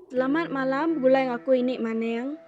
Selamat malam begulai ngaku ini maning.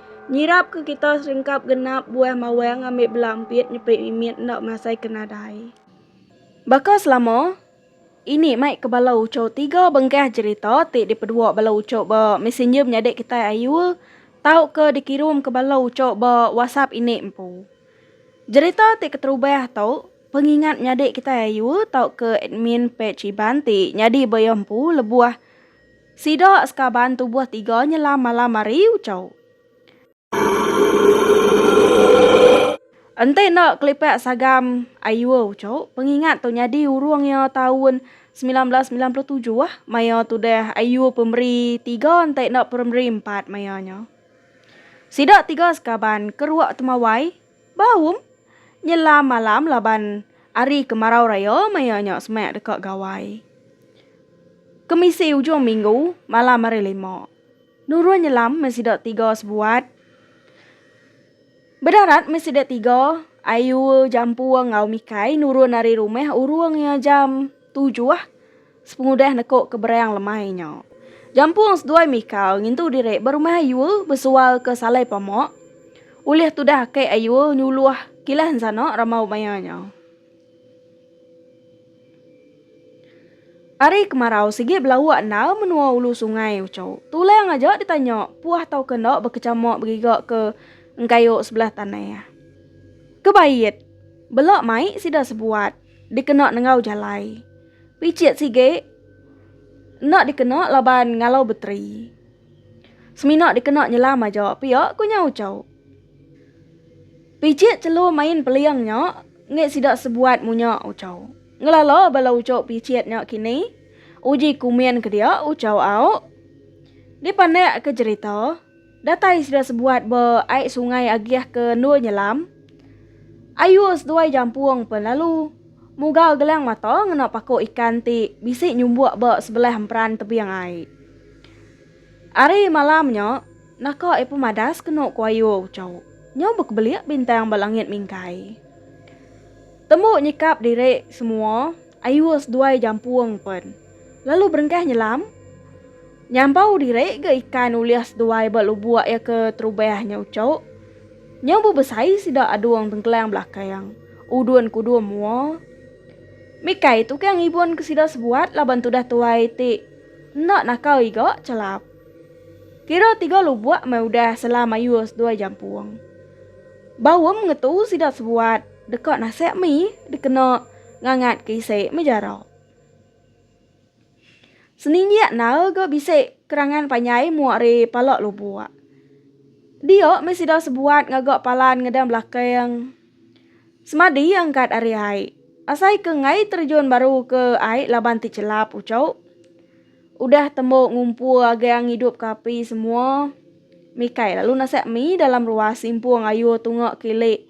Nyirap ke kita serengkap genap buah mawang ambi bela empit nyepit mimit enda masai ke nadai. Baka selama, ini mai ke bala uchu tiga bengkah jerita ti dipedua bala uchu ba messenger menyadi kitai ayu tauka dikirum ke bala uchu ba WhatsApp indi empu. Jerita ti keterubah tu pengingat menyadi kitai ayu tauka admin page Iban ti nyadi baya empu lebuh Sida sekaban tubuh tiga nyelam malam ari uchow. Enti enda kelipak sagam ayuh uchow, pengingat tu nyadi urung iya taun semilan belas semilan puluh tujuh maya tudah ayuh pemeri tiga enti enda pemeri empat maya nya. Sida tiga sekaban kerua temawai. Ba um, nyelam malam laban ari kemarau raya maya nya semak deka gawai. Kemisi ujung minggu malam hari lima. Nurun nyelam meh sida tiga sebuat. Bedarat meh sida tiga Ayu, Jampua enggau Mikai nurun ari rumah urung iya jam tujuh. Sepengudah nekuk ke berang lemai nya. Jampung seduai mikau ngintu diri ba rumah Ayul besual ke salai pamak. Ulih tudah ake Ayul nyuluh kilah ensana ramau maya nya. Ari kemarau sigi belauk endar menua ulu sungai uchu. Tulang aja ditanya puah tau ke enda bekechamak begiga ke engkayuk sebelah tanah. Kebait. Bela mai sida sebuat. dikena nengau jalai. Picit sigi, enda dikena laban ngalau beteri. Semina dikena nyelam aja pia, ku nya uchau. Picit chelu main peling nya enggai sida sebuat munya uchau. Ngelala bala uchu picit nya kini uji kumin ke dia uchau au dipandak ke jerita. Datai sida sebuat ba ai sungai agih ke endur nyelam. Ayuh seduai jampung pen lalu. Mugal gelang mata ngena paku ikan ti bisi nyumbuk ba sebelah emperan tebing ai. Ari malam nya, naka iya pemadas kenu ku Ayuh uchu nya bekebelik bintang ba langit mingkai. Tembu nyikap diri semua. Ayuh seduai jampung pen. Lalu berengkah nyelam. Nyambau diri ga ikan ulih seduai ba lubuk ya ke terubah nya ucuk. Nya bu besai sida adung tengkelang belakang. Udun kudum mua. Mikai tukang ngibun ke sida sebuat laban tudah tuai ti enda nakal iga chelap. Kira tiga lubuk mai udah selam ayuh seduai jampung. Baum ngetu sida sebuat. Deka nasek mi dikena ngangat ke isi me jara. Seninjik nal ga bisi kerangan panjai mua ari pala lubuk. Dia me sida sebuat ngaga palan ngedan belakang semadi angkat ari ai. Asai ke ngai terjun baru ke ai laban ti chelap uchu. Udah tembu ngumpu agang ngidup ke api semua. Mikai lalu nasek mi dalam ruas simpung ayu tunga kili.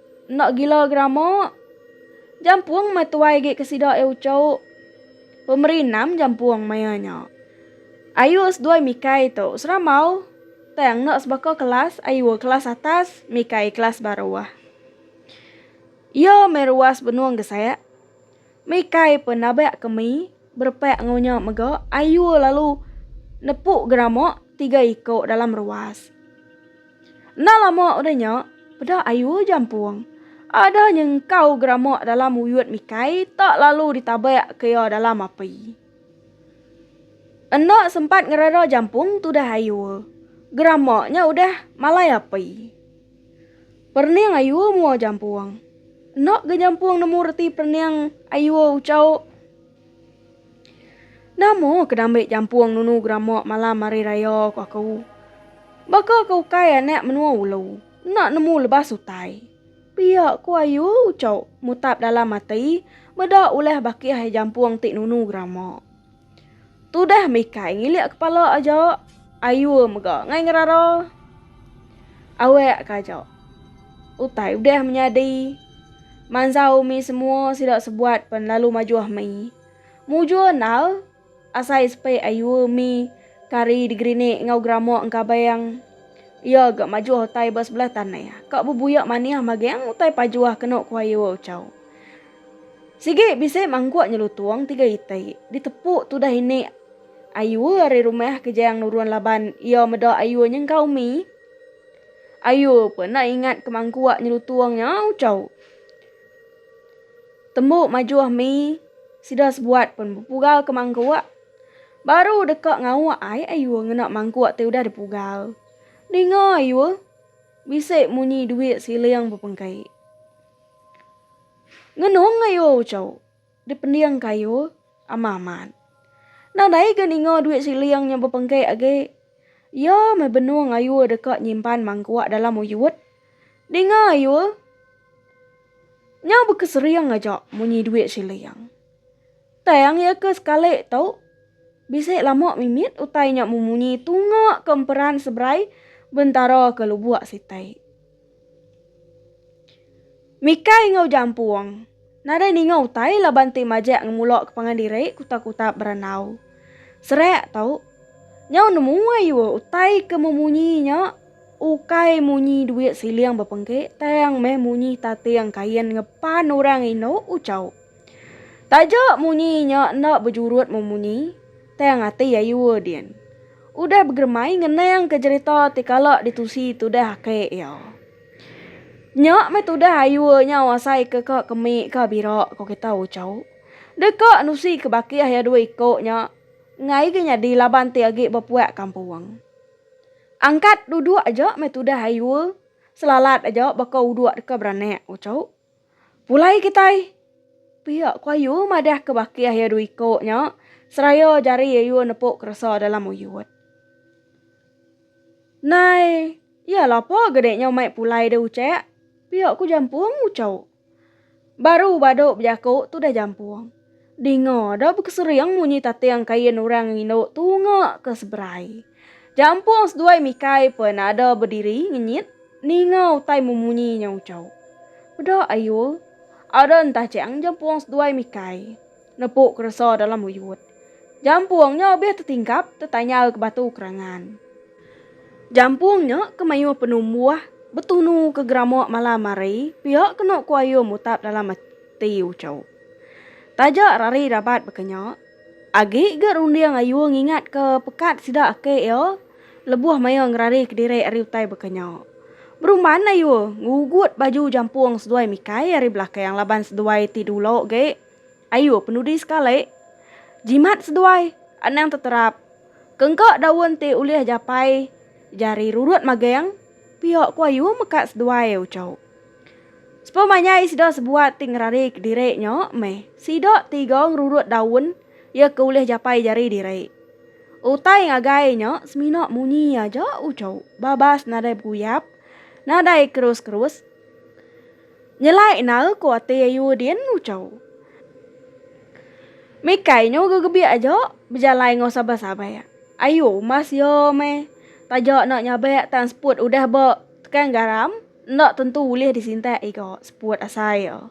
Enda gila gerama. Jampung meh tuai gi ke sida e ucuk. Pemeri enam jampung maya nya. Ayuh seduai mikai tu seramau tang enda sebaka kelas ayuh kelas atas mikai kelas baruh. Iya meh ruas benung gesak. Mikai pe nabak kemi berepak enggau nya mega ayu lalu nepu gerama tiga iko dalam ruas. Enda lama udah nya peda ayu jampung adah nyengkau gerama dalam uyut Mikai tak lalu ditabak ke iya dalam api. Enda sempat ngereda jampung tudah ayu, gerama nya udah malai api. Perening ayua mua jampung. Enda ga jampung nemu reti perening ayua ucau. Nama ke dambi jampung nunu gerama malam hari raya ku aku. Baka ke ukai anak menua ulu enda nemu lebas utai. Pia ku ayu ucau mutap dalam ati meda ulih bakih jampung ti nunu gerama. Tudah mikai ngilik kepala aja ayur mega ngai ngerara. Awek ka aja. Utai udah menyadi. Mansa umi semua sida sebuat pen lalu majuh mi. Mujur endar asai sepe ayur mi kari digerinik enggau geramak engkabang. Iya ga majuh utai ba sebelah tanah ka bebuyak manih mageng utai pajuh kenu ku ayur ucau. Sigi bisi mangguk nyelutung tiga iti ditepu tudah ini Ayur ari rumah ke Jayang nurun laban iya meda Ayur nyengkau mi. Ayur pun enda ingat ke mangguk nyelutung nya ucau. Tembu majuh mi sida sebuat pun bepugal ke mangguk. Baru deka ngauk ai Ayur ngena mangguk ti udah dipugal. Ninga Ayur bisi munyi duit siling bepengkai. Ngenung ayo uco dipending ke ayo ama amat. Nadai ga ninga duit siling nya bepengke agi. Iya meh benung ayo deka nyimpan mangkuk dalam uyut. Dinga ayo nya baka sering aja munyi duit siling. Tang iya ke sekali tu bisi lama mimit utai nya memunyi tunga ke emperan seberai bentara ke lubok siti. Mika enggau Jampung. Nadai ninga utai laban ti majak ngemulok ke pangan diri ku takutap berandau. Serak tau. Nyau nemu ayuh utai ke memunyi nya ukai munyi duit siling bepengke tang meh munyi tating kain ngepan orang indu uchauk. Taja munyi nya enda bejurut memunyi. Tang ati ayu din. Udah begeremai ngenang ke jerita ti kala ditusi tudah aki iya. Nya meh tudah ayu nyau asai ke ka kemi ka bira ko kita ucau. Deka nusi ke bakih iya dua iko nya enggai ga nyadi laban ti agi bepuak kampung. Angkat duduk aja meh tudah ayu selalat aja baka uduk deka beranak ucau. Pulai kitai pia ku ayu madah ke bakih iya dua iko nya seraya jari ayu nepu keresa dalam uyut. Nai iya lapa gede nya umai pulai deh ucek pia ku jampung ucho. Baru badu bejaku tudah jampung. Dinga da bekesering munyi tating kain orang ngindu tunga ke seberai. Jampung seduai mikai pen ada bediri ngenyit ninga utai memunyi nya ucau. Meda Ayul, ada entajang Jampung seduai mikai. Nepu keresa dalam uyut. Jampung nya obih tetingkap tetanyal ke batu kerangan. Jampung nya ke mayuh penumbuh betunu ke gerama malam hari pia kenu ku Ayul mutap dalam ati ucau. Taja rari rabat baka nya, agi ga runding ayu ngingatka pekat sida ake iya lebuh maya ngerari kediri ari utai baka nya. Berumban ayu ngugut baju jampung seduai mikai ari belakang laban seduai ti dulu ge ayu penudi sekali. Jimat seduai anang teterap ke engka daun ti ulih japai jari rurut magang. Pia ku ayu meka seduai ucau. Sepa manyai sida sebuat ti ngerari kediri nya meh sida tiga ngerurut daun iya ke ulih japai jari diri. Utai ngagai nya semina munyi aja ucau babas nadai beguyap, nadai kerus-kerus. Nyelai nal ko ati ayu din ucau. Mikai nyu gegebiak aja bejalai enggau sabar sabar. Ayu mas ya meh taja enda nyabak tang seput udah ba tekan garam enda tentu ulih disintak ega seput asai ya.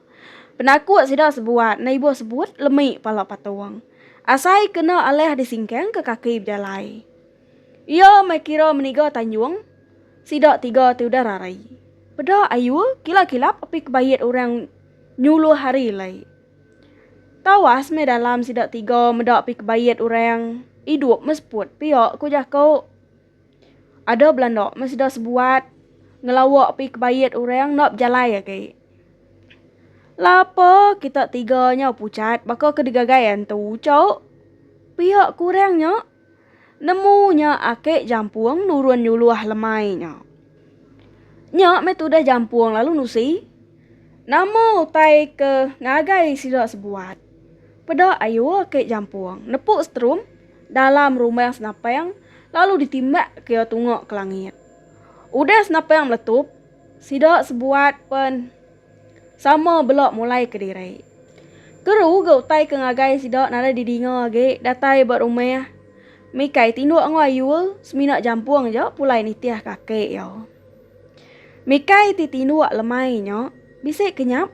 Penakut sida sebuat enda ibuh sebut lemi pala patung. Asai kena alah disingkang ke kaki bejalai. Iya meh kira meniga Tanjung, sida tiga ti udah rarai. Peda ayu kilap-kilap api kebayit orang nyuluh hari alai. Tawas meh dalam sida tiga meda api kebayit orang, idup meh seput pia ku jaku. Ada belanda meh sida sebuat ngelawa api kebayit orang enda bejalai agi. Lapa kita tiga nyau pucat baka ke digagai antu uchu pia ku orang nya. Nemu nya ake jampung nurun nyuluh lemai nya. Nya meh tudah jampung lalu nusi. Nama utai ke ngagai sida sebuat. Peda ayu ake jampung nepu setrum dalam rumah senapang lalu ditimbak ke iya tunga ke langit. Udah senapang meletup sida sebuat pen. Sama bela mulai ke diri. Keru ga utai ke ngagai sida nadai didinga agi datai ba rumah Mikai tinduk enggau Ayul semina jampung ja pulai nitih kaki iya. Mikai ti tinduk lemai nya bisi kenyap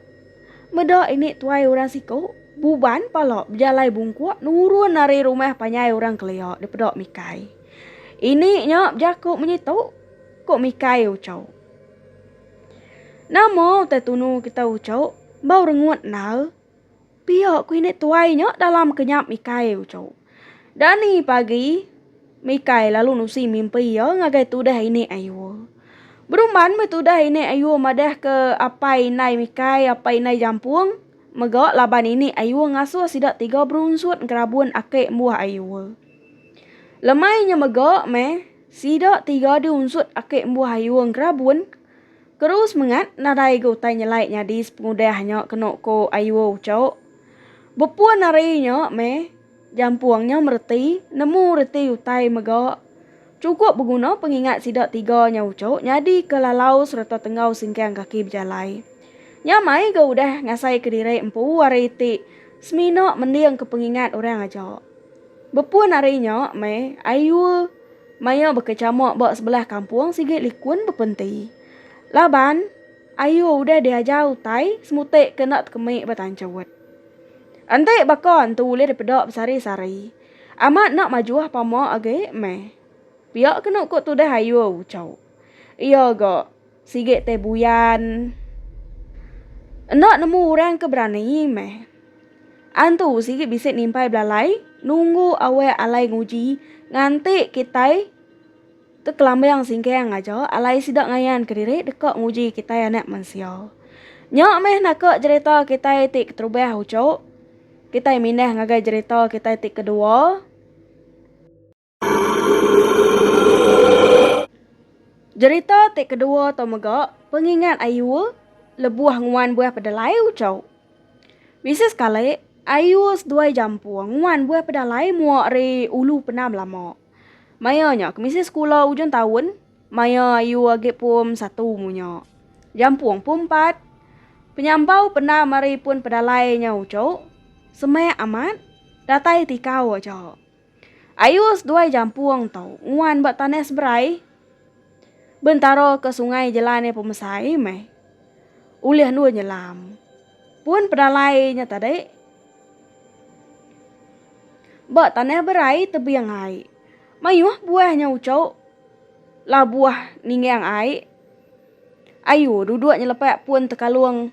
meda ini tuai orang siku buban pala bejalai bungkuk nurun ari rumah panjai orang kelia dipeda Mikai. Ini nya bejaku menyi tu, ku Mikai uchau. Nama utai tunu kita uco bau rengut endar? Pia ku ini tuai nya dalam ke nyap ikai uco. Dani pagi mikai lalu nusi mimpi iya ngagai tudah ini ayua. Berumban meh tudah ini ayua madah ke apai indai mikai apai indai jampung mega laban ini ayua ngasuh sida tiga berunsut ngerabun ake embuh ayua. Lemai nya mega meh. Sida tiga diunsut Aki Embuh Ayung Kerabun keru semengat nadai ga utai nyelai nyadi sepengudah nya kenu ku Ayuh Ucok. Bepun ari nya meh, jampung nya mereti nemu reti utai mega chukup beguna pengingat sida tiga nya Ucok nyadi ke lalau sereta tenggau singkang kaki bejalai. Nya mai ga udah ngasaika diri empu ari ti semina mendingka pengingat orang aja. Bepun ari nya meh, ayu maya baka chamuk ba sebelah kampung sigi likun bepenti. Laban ayu udah diajar utai semuti ke enda tekemi ba tanchut. Enti baka antu ulih dipeda besari-sari, amat enda majuh pama agi meh. Pia kenu ku tudah ayu uchu. Iya ga. Sigi te buyan. Enda nemu orang ke berani meh. Antu sigi bisi nimpai belalai nunggu awak alai nguji nganti kitai ke kelambang singkang aja alai sida ngayan kediri deka nguji kitai anak mensia. Nya meh naka jerita kitai ti keterubah uchu. Kitai mindah ngagai jerita kitai ti kedua. Jerita ti kedua tu mega pengingat Ayul lebuh nguan buah pedelai uchau. Bisi sekali, Ayul seduai Jampung nguan buah pedelai mua ari ulu penam lama. Maya nya ke misi sekula ujung taun, maya Ayul agi pum satu umur nya. Jampung pum empat. Penyambau penam ari pun pedelai nya uchu, semak amat, datai tikau aja. Ayuh seduai jampung tu nguan ba tanah seberai bentara ke sungai jelan iya pemesai meh ulih endur nyelam. Pun pedalai nya tadi ba tanah berai tebing ai mayuh buah nya uchu labuh ninggang ai ayu duduk nyelepak pun tekalung.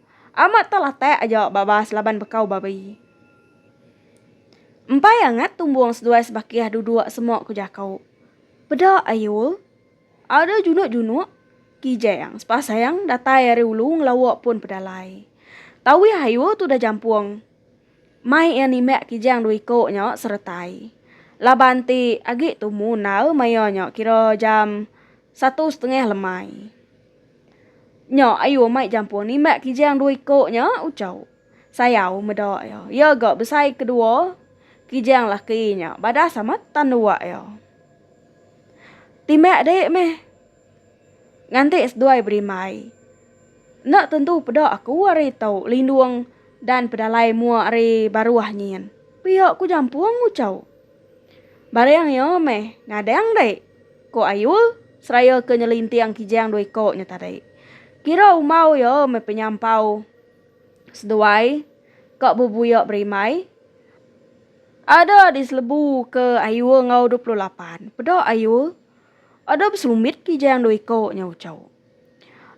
Amat tu latak aja babas laban bekau babi. Empai angat tumbung seduai sebakih duduk semok ku jaku. Peda ayul. Ada junuk-junuk. Kijang sepasang datai ari ulu ngelawa pun pedalai. Tawih ayul tu dah jampung. Mai iya nimbak kijang dua iko nya seretai. Laban ti agi tumu endar maya nya kira jam satu setengah lemai. Nya ayu amai jampung nimbat kijang dua iko nya ucau. Sayau meda iya. Iya ga besai kedua kijang laki nya badas amat tan dua iya. Timbat dek meh nganti seduai berimbai. Enda tentu peda aku ari ito lindung dan pedalai mua ari baruh nyin. Pia ku jampung ucau. Baring iya meh ngadang deh, ku Ayul seraya ke nyelinting kijang dua iko nya tadi. Kira umau iya meh penyampau seduai ka bebuya berimai. Ada di selebu ke Ayul enggau dua puluh lapan. Peda Ayul, ada besumbit kijang dua iko nya uchu.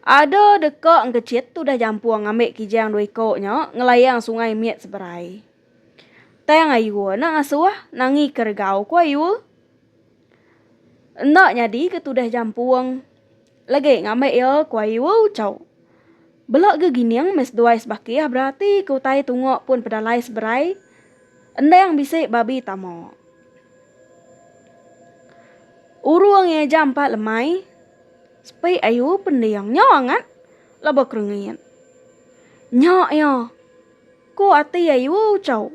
Ada deka engkechit udah jampung ngambi kijang dua iko nya ngelayang sungai mit seberai. Tang ayu anak ngasuh nangi keregau ku ayu. Enda nyadi ke tudah jampung legi ngambi iya ku ayu ucau. Bela gegining meh seduai sebakih berati ke utai tunga pun pedalai seberai endang bisi babi tama. Urung iya jam empat lemai sepi ayu pending nya angat laban kerengit. Nya iya. Ku ati Ayuo Chau,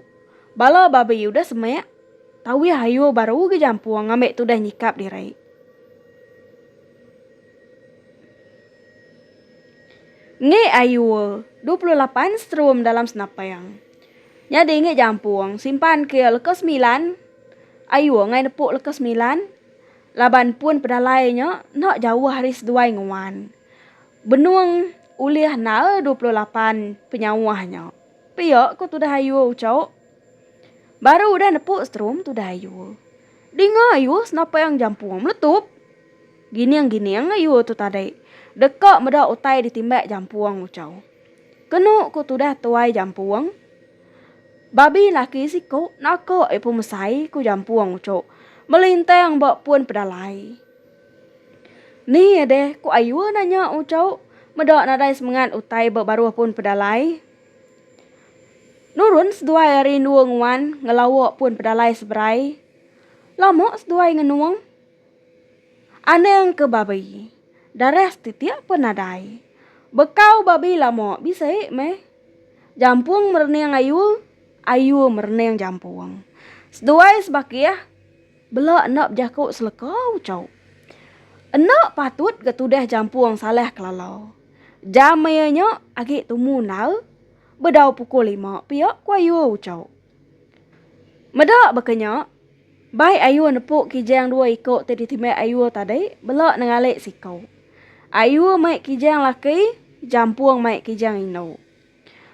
Bala babi udah semek, tauih Ayuo baru ga jampung ngambi tudah nyikap diri. Ngi Ayuo, dua puluh lapan serum dalam senapang. Nyadi ngi jampung, simpan ke leka semilan, Ayuo ngai nepuk leka semilan, laban pun pedalai nya enda jauh ari seduai nguan. Benung ulih nal dua puluh lapan penyauh nya. Pia ko tudah ayuh uchauk. Baru udah nepuk strum tudah ayuh. Dinga ayuh senapeang jampung meletup. Gining-gining ayuh tu tadi. Deka meda utai ditimbak jampung uchau. Kenu ko tudah tuai jampung. Babi laki siko naka ipu mesai ko jampung uchauk. Melintang ba pun pedalai. Ni iya deh ku Ayue nanya Ucok meda nadai semengat utai ba baruh pun pedalai. Nurun seduai ari endua nguan ngelawa pun pedalai seberai. Lama seduai ngenung. Anang ke babi. Darah setitik pun nadai. Bekau babi lama bisi meh. Jampung merening Ayue, Ayue merening Jampung. Seduai sebakih. Bela enda bejaku seleka ucau. Enda patut ga tudah jampung salah kelala. Jam maya nya agi tumu endar bedau pukul lima pia ku ayu ucau. Meda baka nya, bai ayu nepu kijang dua iku ti ditimbak ayu tadi bela nengalik siku. Ayu mai kijang laki, jampung mai kijang indu.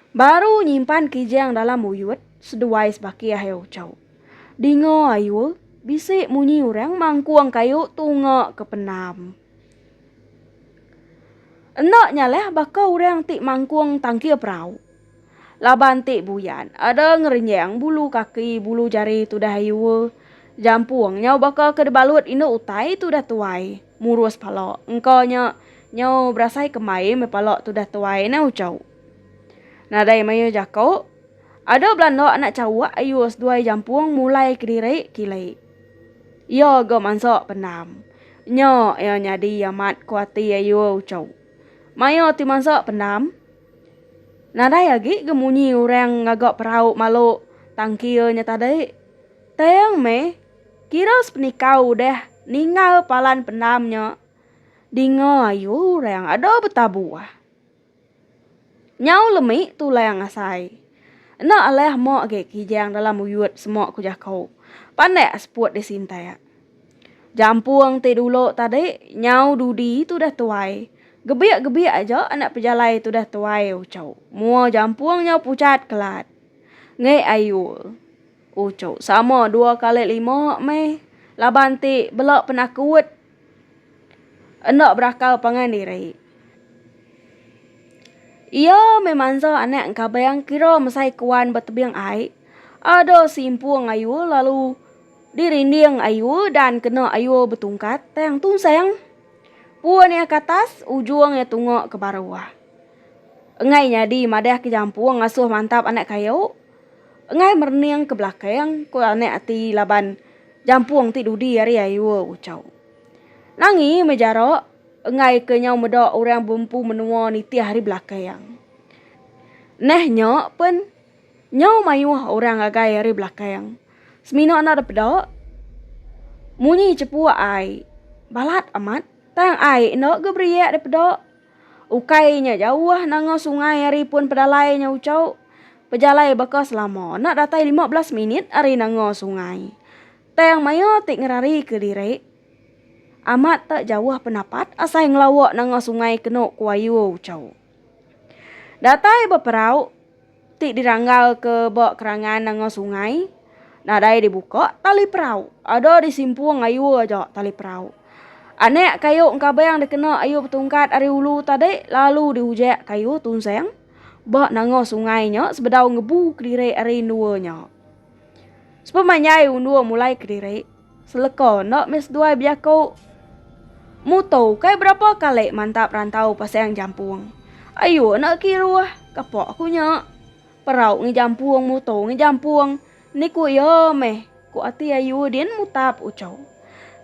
Baru nyimpan kijang dalam uyut seduai sebaki ahiu chau. Dinga ayu bisi munyi urang mangkung kayu tunga ke penam. Enda nyalah baka urang ti mangkung tangkir perau. Laban ti buyan ada ngerenyang bulu kaki bulu jari tudah ayu. Jampung nyau baka ke debalut indu utai tudah tuai. Murus pala. Engka nya nyau berasai ke mai meh pala tudah tuai neh ucau. Nadai mayuh jako. Ada belanda anak cawak ayu seduai jampung mulai kediri kili. Iya ga mansa pendam. Nya iya nyadi amat ko ati ayu ucau. Maya ti mansa pendam. Nadai agi ga munyi orang ngaga perau malu tangkil nya tadi. Tang meh. Kira sepenikau udah ningal palan pendam nya, dinga ayu orang ada betabuh. Nyau lemi tulang asai. Enda alah ma agi kijang dalam uyut sema ku jaku. Pandak seput disintak. Jampung ti dulu tadi nyau dudi tudah tuai. Gebik-gebik aja anak pejalai tudah tuai uchu. Mua jampung nyau pucat kelat. Ngi ayul. Uchu sama dua kali lima meh laban ti bela penakut enda berakal pangan diri. Iya meh mansa anak engkabang kira mesai kuan ba tebing ai, ada simpung ayu lalu dirinding ayu dan kena ayu betungkat tang tunsang. Pun iya ke atas, ujung iya tunga ke baruh. Enggai nyadi madah ke jampung ngasuh mantap anak kayu. Enggai merening ke belakang, ku anak ati laban jampung ti dudi ari Aiwo Uchau. Nangi meh jarak enggai ke nyau meda orang bempu menua nitih ari belakang. Neh nya pen nyau mayuh orang ngagai ari belakang. Semina enda depeda, munyi chepuk ai balat amat tang ai enda ga beriak dipeda. Ukai nya jauh nanga sungai ari pun pedalai nya Uchau. Pejalai baka selama enda datai lima belas minit ari nanga sungai. Tang maya ti ngerari ke diri amat te jauh penapat asai ngelawa nanga sungai kenu ku ayu Uchau. Datai beperau. ti diranggalka ba kerangan enggau sungai nadai dibuka tali perau ada disimpung ayu aja tali perau. Anak kayu engkabang dikena ayu betungkat ari ulu tadi lalu diujak kayu tunsang ba nengah sungai nya sebedau ngebu kediri ari endua nya. Sepemanjai undung mulai kediri. Seleko enda meh seduai bejaku mutu kai berapa kali mantap rantau pasang jampung. Ayu enda kiruh kepak aku nya. Perau ngi jampung mutu ngi jampung ni ku iya meh ku ati ayu din mutap uchu.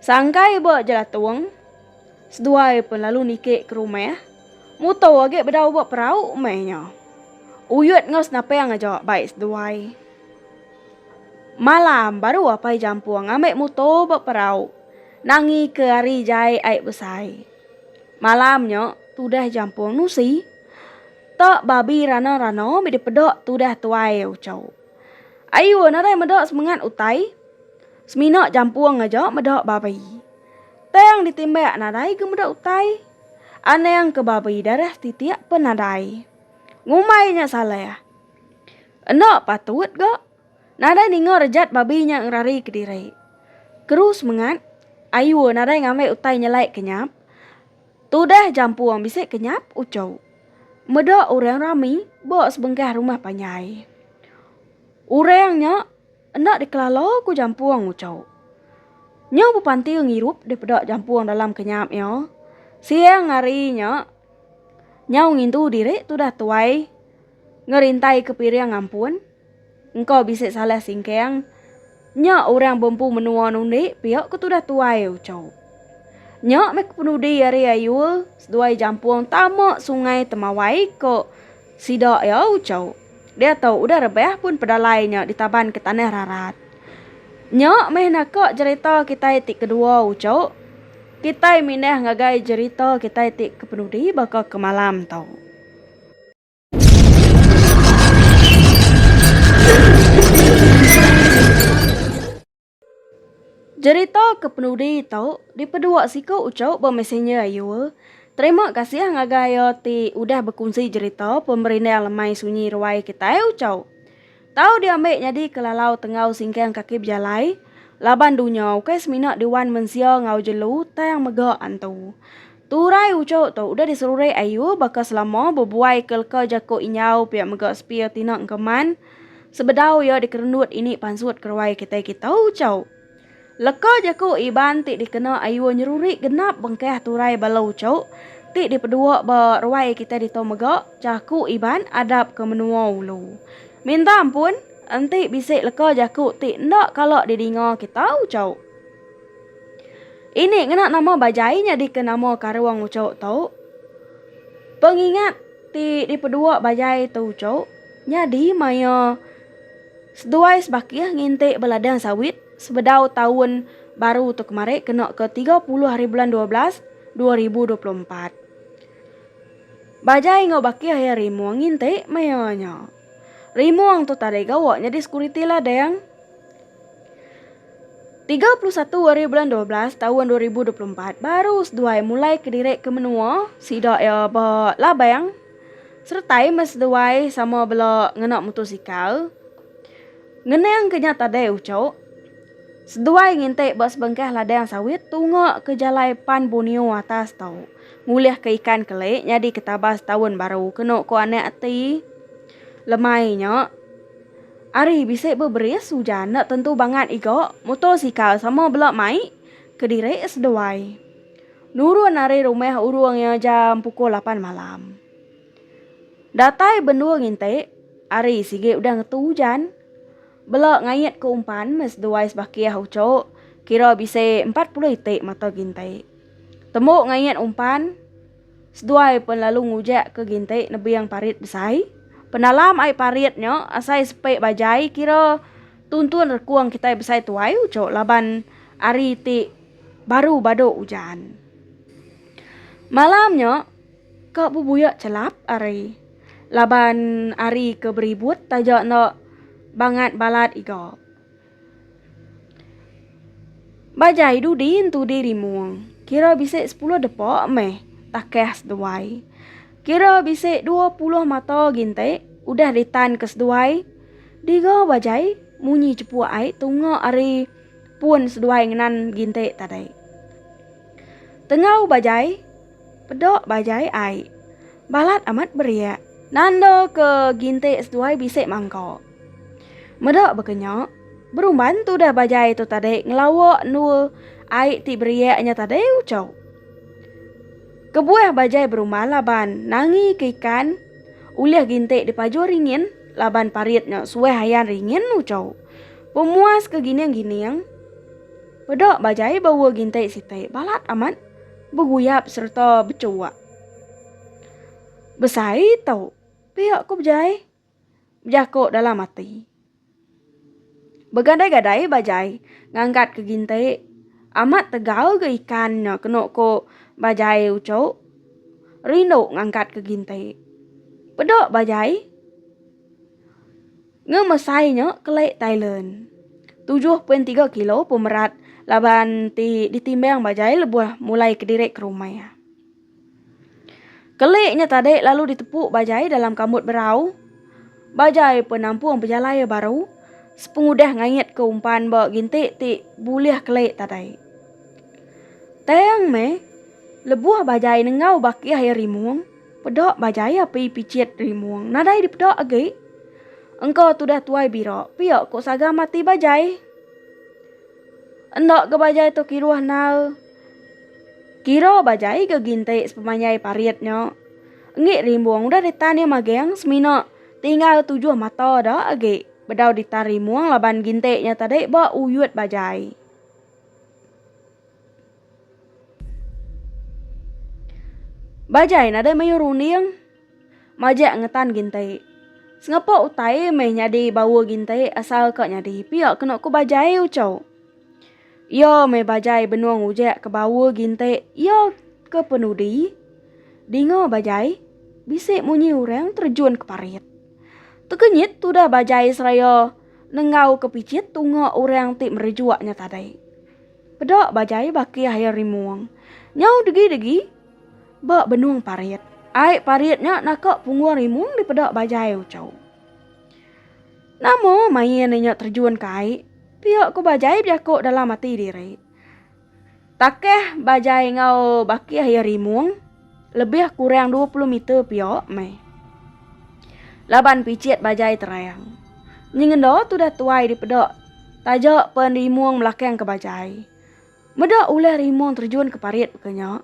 Sangkai ba jelatung seduai pen lalu niki ke rumah mutu agi bedau ba perau meh nya. Uyut enggau senapang aja bai seduai. Malam, baru Apai Jampung ngambi mutor ba perau nangi ke ari jai ai besai. Malam nya, tudah Jampung nusi. Ta babi rana-rana mih dipeda tudah tuai ucho. Ayuh nadai meda semengat utai. Semina Jampung aja meda babi. Tang ditimbak nadai ga meda utai. Anang ke babi darah titik pun nadai. Ngumbai nya salah. Enda patut ga nadai ninga rejat babi nya ngerari ke diri. Keru semengat, Ayu nadai ngambi utai nyelai ke nyap. Tudah jampung bisi ke nyap uchu. Meda orang rami ba sebengkah rumah panjai. Orang nya enda dikelala ku jampung uchu. Nyau bepanti ngirup daripada jampung dalam ke nyap iya. Siang hari nya, nyau ngintu diri tudah tuai. Ngerintaika piring ampun, engka bisi salah singkang nya orang bempu menua nundi pia ke tudah tuai ucau. Nya meh ke penudi ari Ayul seduai Jampung tama sungai Temawai ke sida iya ucau. Diatu udah rebah pun pedalai nya ditabanka tanah rarat. Nya meh naka jerita kitai ti kedua ucau. Kitai mindah ngagai jerita kitai ti ke penudi baka ke malam tu. Jerita ke penudi tu dipedua siku uchu ba messenger ayu. Terima kasih ngagai iya ti udah bekunsi jerita Pemerindang Lemai Sunyi Ruai kitai uchu. Tau diambi nyadi kelalau tenggau singkang kaki bejalai, laban dunya ukai semina diwan mensia enggau jelu tang mega antu. Turai uchu tu udah diserurik ayu baka selama bebuai ke leka jaku injau pia mega sepia tina engkeman sebedau iya dikerenut ini pansut keruai kitai kita uchu. Leka jaku Iban ti dikena Ayuh Nyeruri genap bengkah turai bala uchok ti dipedua ba ruai kitai ditu mega jaku Iban adap ke menua ulu. Minta ampun, enti bisi leka jaku ti enda kala didinga kita uchok. Ini ngena nama Bajai nyadika nama karung uchok tu. Pengingat ti dipedua Bajai tu uchok nyadi maya Seduai sebakih nginti beladang sawit sebedau taun baru tu kemari kena ke tiga puluh hari bulan dua belas dua ribu dua puluh empat. Bajai enggau bakih iya Rimong nginti maya nya. Rimong tu tadai gawa nyadi sekuriti ladang. Tiga puluh satu hari bulan dua belas taun dua ribu dua puluh empat baru seduai mulai kediri ke menua sida iya ba Labang. Seretai meh seduai sama bela ngena mutosikal. Ngenang ke nya tadai ucok, seduai ngintik ba sebengkah ladang sawit tunga ke jalai pan Borneo atas tu, ngulih ke ikan kelik nyadi ke tabas taun baru kenu ko anak ati. Lemai nya, ari bisi beberis ujan enda tentu bangat iga mutosikal sama bela mai kediri seduai. Nurun ari rumah urung iya jam pukul lapan malam. Datai benung inti, hari sigi udah ngetu ujan. Bela ngait ke umpan meh seduai sebakih uchu, kira bisi empat puluh iti mata ginti. Tembu ngait umpan, seduai pen lalu ngujak ke ginti nebing parit besai. Penalam ai parit nya asai sepi bajai kira tuntun rekung kitai besai tuai uchu laban hari ti. baru badu ujan. Malam nya ka bebuya chelap ari laban ari ke beribut taja enda bangat balat iga. Bajai dudi entu di rimung kira bisi sepuluh depa meh takah seduai. Kira bisi dua puluh mata ginti udah ditan ke seduai. Diga bajai munyi chepuk ai tunga ari. pun seduai ngenan ginti tadi. Tengau bajai peda bajai ai. Balat amat beriak. Nanda ke ginti seduai bisi mangka. Meda baka nya, berumban tudah bajai tu tadi ngelawa endua ai ti beriak nya tadi uchu. Kebuah bajai berumban laban nangi ke ikan ulih ginti dipaju ringin laban parit nya suah ayan ringin uchu. Pemuas ke gining-gining, peda bajai bawa gintai sitai balat amat beguyap sereta becuak. Besai tu, pia ku bejai, bejako dalam ati. Begadai-gadai bajai ngangkat ke gintai amat tegal ga ikan nya kenu ku bajai uchu rindu ngangkat ke gintai. Peda bajai. Ngemesai nya kelai Thailand, tujuh poin tiga kilo pemerat laban ti ditimbang ba jai lebuh mulai kediri ke rumah iya. Kelai nya tadi lalu ditepu ba jai dalam kambut berau ba jai pun nampung pejalai iya baru sepengudah ngaitka umpan ba ginti ti bulih kelai tadi. Tang meh, lebuh ba jai nengau bakih iya rimung. Peda bajaya pi pichit rimung nadai dipeda agi. Engka tudah tuai bira pia ko saga mati bajai. Enda ga bajai tu kiruh nau. Kira bajai ga ginti sepemanjai parit nya. Engi rimbung udah ditan iya maging semina tinggal tujuh mata da agi bedau ditan rimung laban ginti nya tadi ba uyut bajai. Bajai nadai mayuh runding majak ngetan gintai. Sengepa utai meh nyadi baur gintai asalka nyadi pia kenu ku bajai uco. Iya meh bajai benung ujak ke baur gintai iya ke penudi dinga bajai bisi munyi orang terjun ke parit. Tekenyit tudah bajai seraya nenggau ke pichit tunga orang ti merejuk nya tadai. Peda bajai baki air rimung. Nyau degi-degi ba benung parit. Ai parit nya naka punggung rimung dipeda bajai uchu. Nama main inya terjun ke ai? Pia ku bajai bejaku dalam ati diri. Takeh bajai enggau baki air rimung. Lebih kurang dua puluh meter pia meh. Laban picit bajai terang. Nyengenda tudah tuai dipeda taja pen rimung belakang ke bajai. Meda ulah rimung terjun ke parit baka nya.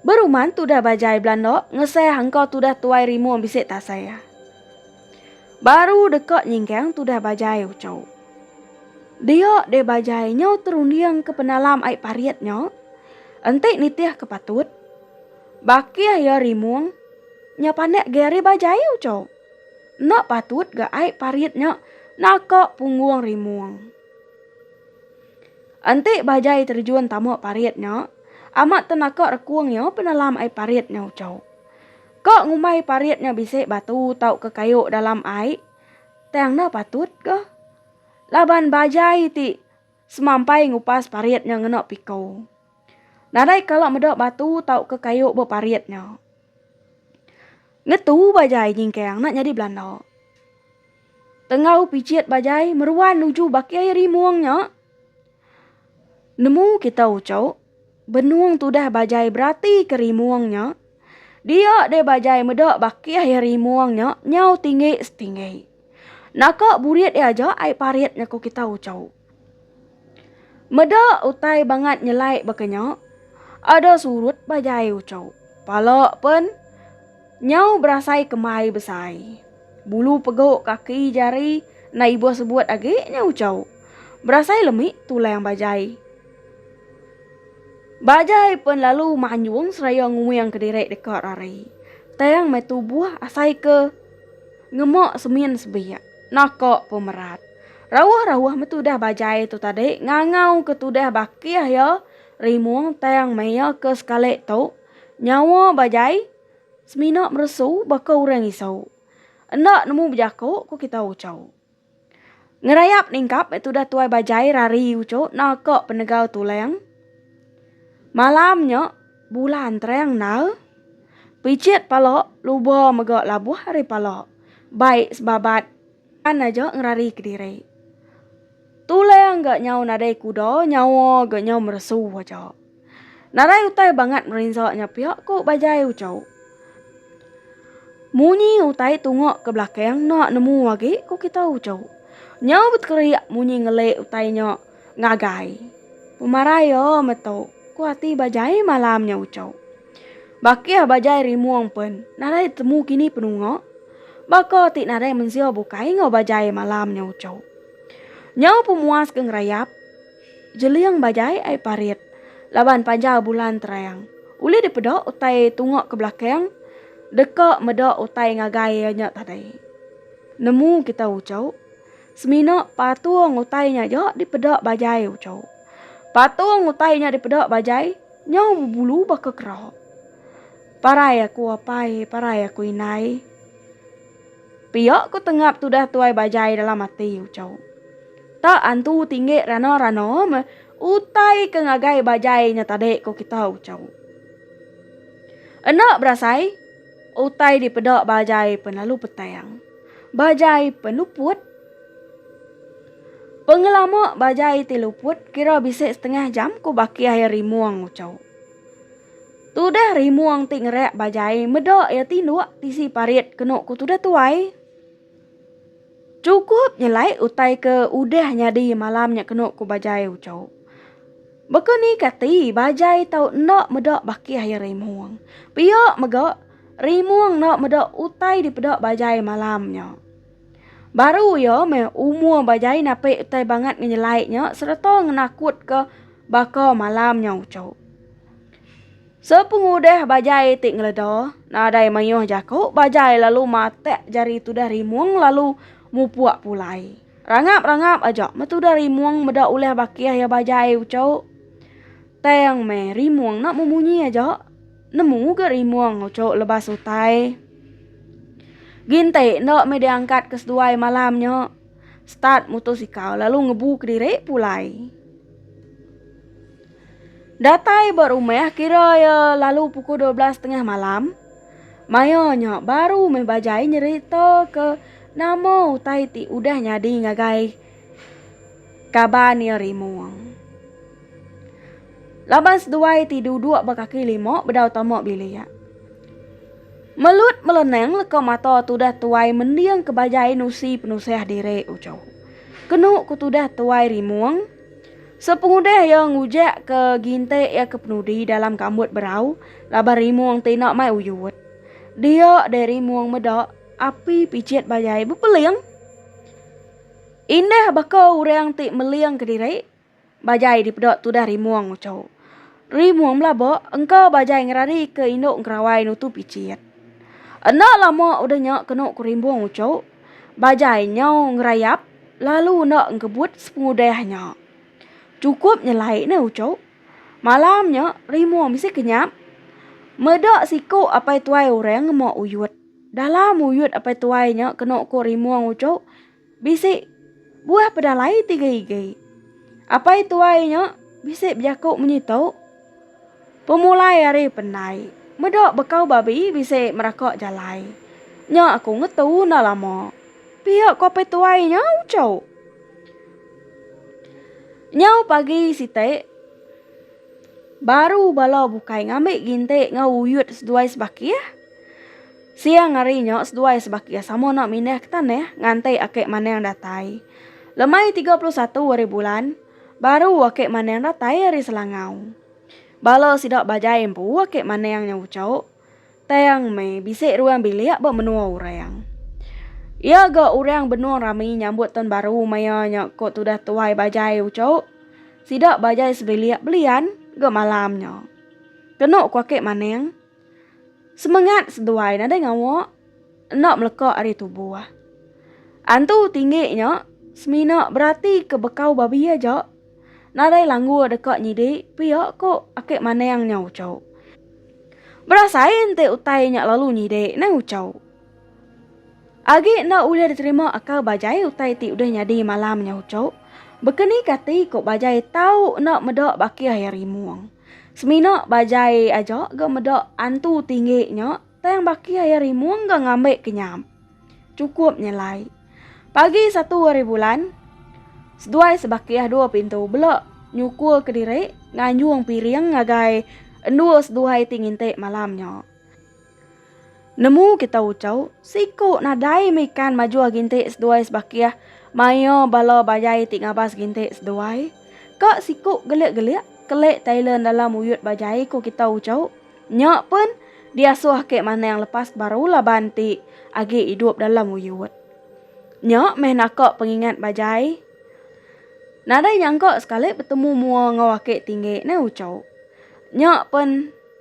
Beruman tudah bajai belanda ngesah engka tudah tuai rimung bisi tasah. Baru deka nyingkang tudah bajai ucau. Dia deh bajai nyau terunding ke penalam ai parit nya. Enti nitih ke patut. Bakih iya rimung. Nya panak gai ari bajai ucau. Enda patut ga ai parit nya naka punggung rimung. Enti bajai terjun tama parit nya, amat tenaka rekung iya penalam ai parit nya ucau. Ka ngumbai parit nya bisi batu tauka kayu dalam ai, tang enda patut ga. Laban bajai ti semampai ngupas parit nya ngena piko. Nadai kala meda batu tauka kayu ba parit nya. Ngetu bajai nyingkang enda nyadi belanda. Tenggau pijit bajai meruan nuju baki rimung nya. Nemu kita uchauk, benung tudah bajai beratika rimung nya, dia deh bajai meda bakih iya rimung nya nyau tinggi setinggi. Naka burit iya aja ai parit nya ku kita uchauk. Meda utai bangat nyelai baka nya, ada surut bajai uchauk. Pala pen. Nyau berasai kemai besai. Bulu pegu kaki jari enda ibuh sebut agi nya ucau. Berasai lemi tulang bajai. Bajai pen lalu manjung seraya nguing kediri deka rari. Tang meh tubuh asai ke ngema semin sebik. Naka pemerat. Rauh-rauh meh tudah bajai tu tadi ngangau ke tudah bakih iya rimung tang meh iya ke sekali tu. Nyawa bajai semina meresu baka orang isau. Enda nemu bejako ko kita uco. Ngerayap ningkap meh tudah tuai bajai rari uco naka penegau tulang. Malam nya bulan terang endar. Pichit pala luba mega labuh ari pala. Baik sebabat. Pan aja ngerari kediri. Tulang ga nyau nadai kuda, nyawa ga nyau meresu aja. Narai utai bangat merinsa nya pia ku Bajai Ucho. Munyi utai tunga ke belakang enda nemu agi ku kita Ucho. Nyau betekeria munyi ngeli utai nya ngagai. Pemarai iya meto, ku ati Bajai malam nya Ucho. Bakih bajai rimung pen nadai temu kini penunga, baka ti nadai mensia bukai enggau bajai malam nya uchu. Nyau pemuas ke ngerayap, jeling bajai ai parit laban panjau bulan terang. Ulih dipeda utai tunga ke belakang deka meda utai ngagai iya nya tadai. Nemu kita uchu, semina patung utai nya aja dipeda bajai uchu. Patung utai nya dipeda bajai Nyau bebulu baka kera. Parai aku apai, parai aku indai. Pia ku tengap tudah tuai bajai dalam ati Uchau. Ta antu tinggi rana-rana meh utai ke ngagai bajai nya tadi ku kita Uchau. Enda berasai. Utai dipeda bajai penlalu petang. Bajai penuput Pengelama bajai ti luput kira bisi setengah jam ku baki ai Rimung Ucau. Tudah Rimung ti ngerak bajai meda iya tinduk tisi parit kenu ku tudah tuai. Chukup nyelai utai ke udah nyadi malam nya kenu ku Bajai Ucho. Baka ni kati Bajai tau enda meda bakih iya Rimung. Pia mega Rimung enda meda utai dipeda Bajai malam nya. Baru iya meh umur Bajai napi utai bangat ngenyelai nya sereta ngenakutka baka malam nya Ucho. Sepengudah bajai ti ngeleda, nadai mayuh jaku bajai lalu matak jari tudah rimung lalu mupuk pulai. Rangap-rangap aja meh tudah rimung meda ulih bakih iya bajai ucuk. Tang meh rimung enda memunyi aja, nemu ga rimung ucuk lebas utai. Ginti enda meh diangkat ke seduai malam nya. Start mutosikal lalu ngebu kediri pulai. Datai ba rumah kira iya lalu pukul dua belas tengah malam. Maya nya baru meh bajai nyerita ke nama utai ti udah nyadi ngagai kaban iya rimung. Laban seduai ti duduk ba kaki lima bedau tama bilik. Melut melenang leka mata tudah tuai mending ke bajai nusi penusah diri uchu. Kenu ku tudah tuai rimung. Sepengudih iya ngujekka ginti iya ke penudi dalam kambut berau laban rimung ti enda mai uyut. Dia deh rimung meda api picit bajai bepeling. Indah baka orang ti meling kediri, bajai dipeda tudah rimung nguchu. Rimung belaba engka bajai ngeradika indu engkerawai nutu picit. Enda lama udah nya kenu ku rimung uchu, Bajai nyau ngerayap lalu enda engkebut sepengudah nya. Chukup nyelai ne uchu. Malam nya rimu bisi kenyap. Meda siku apai tuai orang ngema uyut. Dalam uyut apai tuai nya kenu ku rimung uchu bisi buah pedalai tiga igi. Apai tuai nya bisi bejaku munyi tu. Pemulai ari pendai. Meda bekau babi bisi meraka jalai. Nya aku ngetu enda lama. Pia kopi tuai nya uchu. Nyau pagi siti baru bala bukai ngambi ginti enggau uyut seduai sebakih. Siang hari nya seduai sebakih sama enda mindah ke tanah nganti ake manang datai. Lemai 31 hari bulan. Baru ake maneng datai ari Selangau. Bala sida bajai empu ake maneng nya ucok, tang meh bisi ruang bilik ba menua orang. Iya ga orang benung rami nyambut taun baru maya nya ko tudah tuai bajai ucok. Sida bajai sebilik belian ga malam nya. Kenu ko ake maneng. Semengat seduai nadai ngawa enda meleka ari tubuh. Antu tinggi nya semina berati ke bekau babi aja nadai langgu deka nyidi pia ko ake maneng nya ucho. Berasai enti utai nya lalu nyidi nai ucho. Agi enda ulih diterima akal bajai utai ti udah nyadi malam nya ucho, bekenika ati ko bajai tau enda meda bakih iya rimung. Semina ba jai aja ga meda antu tinggi nya tang baki aya rimung ga ngambi kenyam. Chukup nyelai. Pagi satu hari bulan, seduai sebakih dua pintu bela nyukul kediri nganjung piring ngagai endur seduai ti nginti malam nya. Nemu kita ucau, siku nadai meikan majuh gintik seduai sebakih maia bala bajai ti ngabas gintik seduai. Ka siku gelik-gelik, kelik Thailand dalam uyut bajai ku kita ucau. Nya pen diasuh ake manang lepas baru laban ti agi idup dalam uyut. Nya meh naka pengingat bajai. Nadai nyangka sekali betemu mua enggau ake tinggi, nai ucau. Nya pen.